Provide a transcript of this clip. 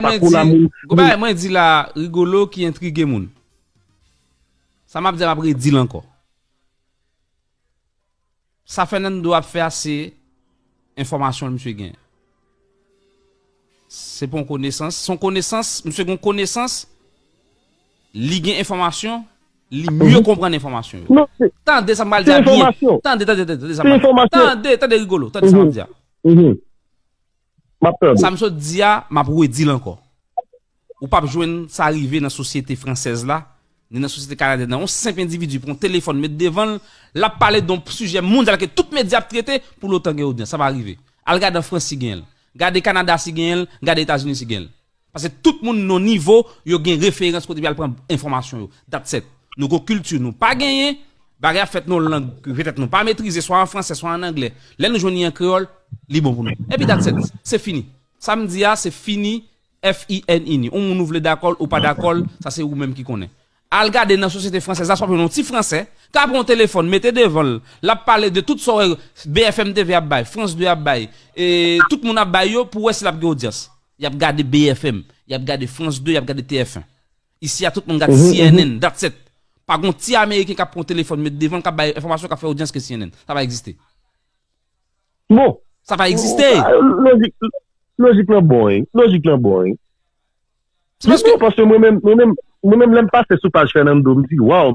Pakou la moun fou. Gon bagay mwen di la Rigolo ki entrige moun. Sa map di a map redil ankò. Sa Fernando ap fè a se enfòmasyon misye gen. Se pa yon konesans, se yon konesans, misye gen yon konesans, li gen enfòmasyon, li mye konprann enfòmasyon yo. Tande sa m pral di a byen. Tande, tande, tande sa m pral di a. Tande, tande Rigolo, tande sa m ap di a. Map tande. Sa m sot di a, m ap redi l ankò. Ou pap jwenn sa rive nan sosyete fransèz la, ni nan sosyete kanadyèn nan. Yon senp endividi pran yon telefòn met devan l, l ap pale de yon sijè mondyal ke tout medya ap trete, pou l otan gen odyans. Sa pa rive. Al gade an Frans si genyen l. Gade Kanada si genyen l, gade Etazini si genyen l. Paske tout moun non nivo yo gen referans kote pou yal pran enfòmasyon yo. Datset. Nou gon kilti nou pa genyen, bagay ap fèt non lang ke petèt nou pa metrize swa an fransè swa an anglè. Lè nou jwenn li an kreyòl, li bon pou nou. Epi datset. Se fini. Sa m di a se fini FININI. On moun ou vle dakò l ou pa dakò l, sa se ou menm ki konnen. Al gade nan sosyete fransèz la sa w ap jwenn yon ti fransè k ap pran yon telefòn mete devan l, l ap pale de tout sa w wè BFM TV ap bay, France 2 ap bay, tout moun ap bay yo pou w wè si l ap gen odyans. Y ap gade BFM, y ap gade France 2, y ap gade TF1. Isi a tout moun gad cnn, that's it. Pa gen yon ti ameriken k ap pran yon telefòn met devan l k ap bay enfòmasyon k ap fè odyans ke cnn. Sa pa egziste. Bon! Sa pa egziste! Lojik lan bon wi. Lojik lan bon wi. Se paske. Non, paske mwen menm, mwen menm, mwen menm lè m pase sou paj Fernando m di waw.